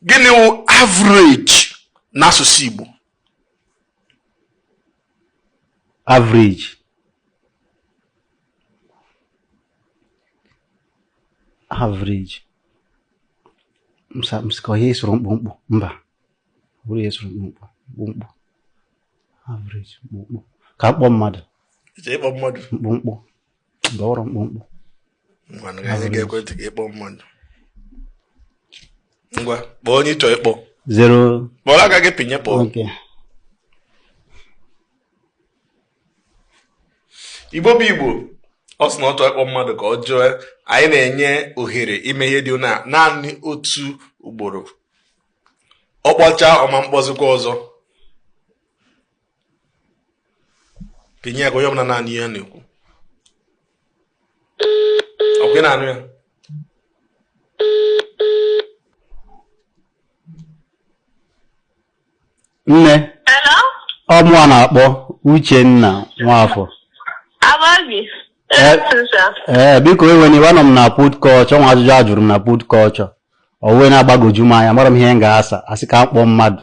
gịnị wụ average n'asụsụ Igbo average average m sị ka ọ ihe suru mkpụmkpụ mba bụrụ ihe suru mkpụmkpụ mkpụmkpụ average mkpụmkpụ ka m kpọọ mmadụ mkpụmkpụ dọrọ mkpụmkpụ ngwanụ ka anyị ga-ekwe ntị ka ị kpọọ mmadụ ngwa kpọọ onye ị chọ ịkpọ zero kpọrọ aka gị pịnye kpọọ okay. igbo bụ igbo ọ sị na ọ chọọ ịkpọ mmadụ ka ọ jụọ anyị na-enye ohere ime ihe dị otu a naanị otu ugboro ọ kpọchaa ọ ma mkpọzikwa ọzọ kenye ya ka onye ọbụla na-anụ ihe na-ekwu ọ kwa ị na-anụ ya nne ọ mụwa na-akpọ Uchenna Nwafọ ee eh, eh, biko ewena iwe anọ m na put culture o nwe ajụjụ a jụrụ m na put culture o wee na-agbagwoju m anya amarọ m ihe m ga-asa a sị ka m kpọọ mmadụ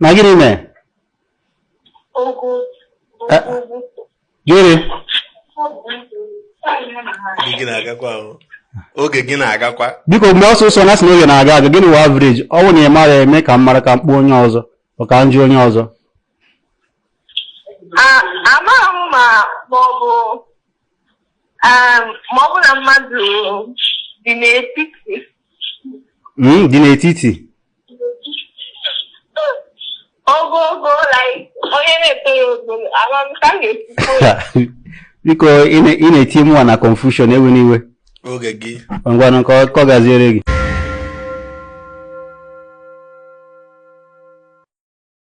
na gịnị mee Eh, gịnị Oge gị na-agakwa ahụ. Oge gị na-agakwa. biko mee ọsọ ọsọ na a sị na oge na-aga aga gịnị wụ average ọ bụ na ị marọ mee ka m mara ka m kpọọ onye ọzọ ọ ka m jụọ onye ọzọ amaghị m ma ma ọ bụ Um, ma ọ bụrụ na mmadụ dị n'etiti Mm, dị n'etiti ogogo like onye na-etoro ogo ama m ka m ga-esi kọwaa ya. biko ị na- ị na-etinye mụwa na confusion ewena iwe oge gị ngwanụ ka ọ- ka ọ gaziere gị